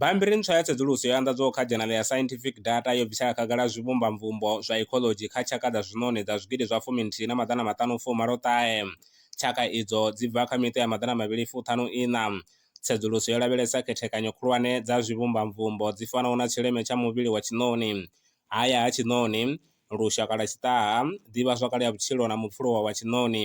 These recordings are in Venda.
Bammbiri ntswa ya tsedzuluso yo anḓadzwaho kha dzhenala ya Scientific Data yo bvisela khagala zwivhumbamvumbo zwa ecology kha tshaka dza zwiṋoni dza zwigidi zwa fumi nthihi na maḓana maṱanu fu malo ṱahe. Tshaka idzo dzi bva kha miṱa ya maḓana mavhili fu ṱhanu iṋa. Tsedzuluso yo lavhelesa khethekanyo khulwane dza zwivhumbamvumbo dzi fanaho na tshileme tsha muvhili wa tshiṋoni, haya ha tshiṋoni, lushaka lwa tshiṱaha, ḓivhazwakale ya vhutshilo na mupfuluwa wa tshiṋoni.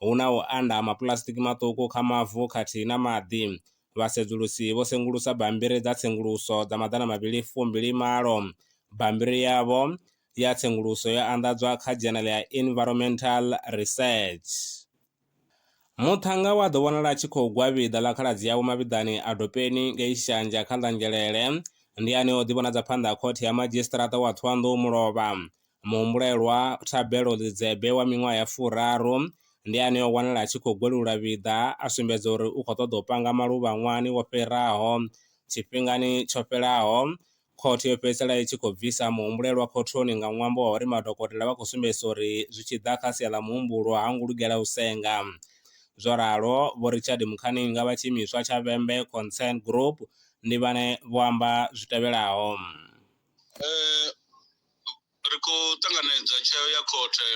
hu na u anda ha mapuḽasitiki maṱuku kha mavu khathihi na maḓi. Vhasedzulusi vho sengulusa bammbiri dza tsenguluso dza maḓana mavhili fu mbili malo. Bammbiri yavho ya tsenguluso yo anḓadzwa kha Journal ya Environmental Research. Muṱhannga we a ḓo vhonala a tshi khou gwa vhiḓa ḽa khaladzi yawe mavhiḓani a Dopeni ngei Shanja kha ḽa Ngelele, ndi ane o ḓi vhonadza phanḓa ha Khothe ya Madzhisiṱaraṱa wa Ṱhohoyanḓou Mulovha. Muhumbulelwa Thabelo Lidzebe wa miṅwaha ya furaru ndi ane o wanala a tshi khou gwelula vhiḓa a sumbedza uri u khou ṱoḓa u panga maluvha ṅwahani wo fhiraho. Tshifhingani tsho fhelaho, khothe yo fhedzisela i tshi khou bvisa muhumbulelwa khothoni nga ṅwambo wa uri madokotela vha khou sumbedzisa uri zwi tshi ḓa kha sia ḽa muhumbulo ha ngo lugela u senga. Zwo ralo, Vho Richard Mukhaninga vha tshiimiswa tsha Vhembe Concern Group ndi vhane vho amba zwi tevhelaho. ri khou ṱanganedza tsheo ya khothe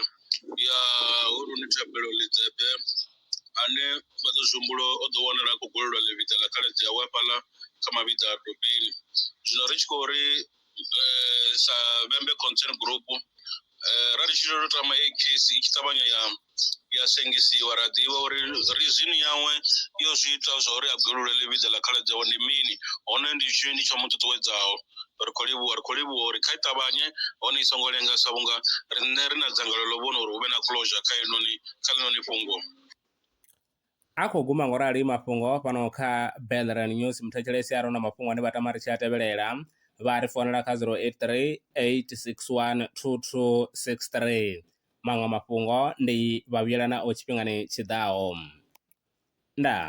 ya Huluni Thabelo Lidzebe ane Vhaḓozwihumbulo o ḓo wanala a khou gwelelwa ḽivhiḓa ḽa khaladzi awe hafhaḽa kha Mavhiḓa a Dopeni. Zwino ri tshi khou ri sa Vhembe Concern Group ra ri tshi tou tama heyi case i tshi ṱavhanya ya ya sengisiwa ra ḓivha uri rizini yawe yo zwi ita zwa uri a gwelule ḽivhidza ḽa khaladzi yawe ndi mini hone ndi tshini tsho mu ṱuṱuwedzaho ri khou livhuwa ri khou livhuwa uri kha i ṱavhanye hone i songo lenga sa vhunga riṋe ri na dzangalelo ḽo vhona uri hu vhe na closure kha inoni kha ḽinoni fhungo A khou guma ngo rali mafhungo fhano kha Belren News. Muthetshelesi a re na mafhungo ane vha tama ri tshi a tevhelela vha ri founela kha 0838612263. Maṅwe mafhungo ndi vha vhuyelanaho tshifhingani tshi ḓaho. Ndaa.